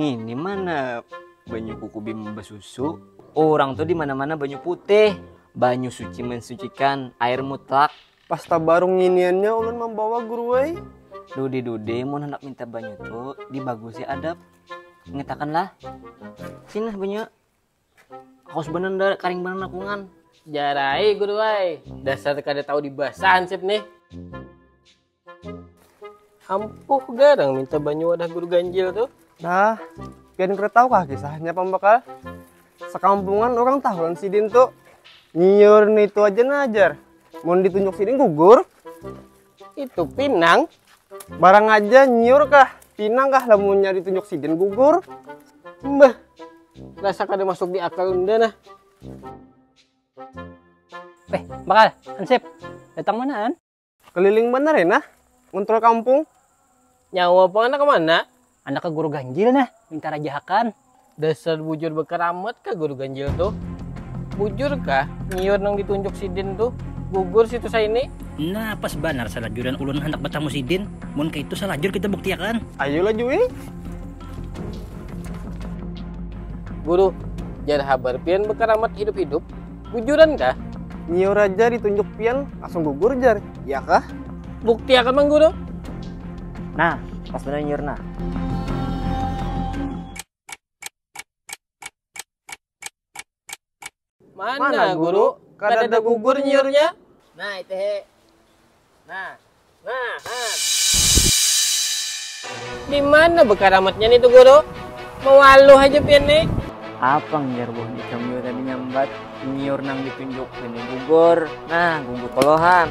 Ngini mana banyu kukubim basusu. Urang tu dimana mana banyu putih. Banyu suci mensucikan, air mutlak. Pasta baru nginiannya ulun mambawa guru ai. Dudi dudi mun handak minta banyu tu dibagusi adab. Ingat akan lah. Sini lah banyu. Haus banar dah karing banar nakungan. Jar ai guru ai. Dasar kada tahu dibasa hansip nih. Ampuh ga nang minta banyu wadah guru ganjil tu. Nah, pian kada tahukah kisahnya pambakal? Sakampungan urang tahu lawan sidin tu. Nyiur nitu aja nang ajar, mun ditunjuk sidin gugur. Itu pinang. Barang aja nyiur kah, pinang kah lamunnya ditunjuk sidin gugur. Mbah, rasa kada masuk di akal unda nah. Weh, bakal, hansip. Datang mana an? Keliling banar ya nah, ngontrol kampung. Nyawa pang handak kemana? Handak ke Guru Ganjil nah, minta rajahakan. Dasar bujur bekeramat kah Guru Ganjil tuh? Bujur kah nyiur nang ditunjuk sidin tuh? Gugur situ saini. Nah, pas banar salajuran ulun handak betamu sidin. Mun kaitu salajur kita buktiakan. Ayu lah Jui. Guru, jar habar pian bekeramat hidup-hidup. bujuran kah nyiur aja ditunjuk pian langsung gugur jar ya kah bukti akan mang guru nah pas bener nyiur nah mana guru kadada gugur nyiurnya nah itu he nah dimana bekaramatnya nih tuh guru mewaluh aja pian nih apang jarwo dicambil tadi nyambat nyiur nang ditunjuk ini gugur nah gugur kolohan